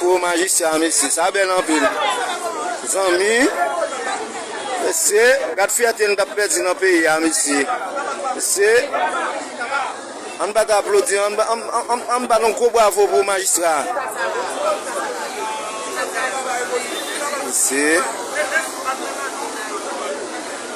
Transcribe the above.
Gwo majistra mesye sa bèl anpil zanmi mesye gad fyète nou tap pèdi nan peyi a mesye mesye ann bat aplodi ann bat yon gwo bwavo pou majistra mesye.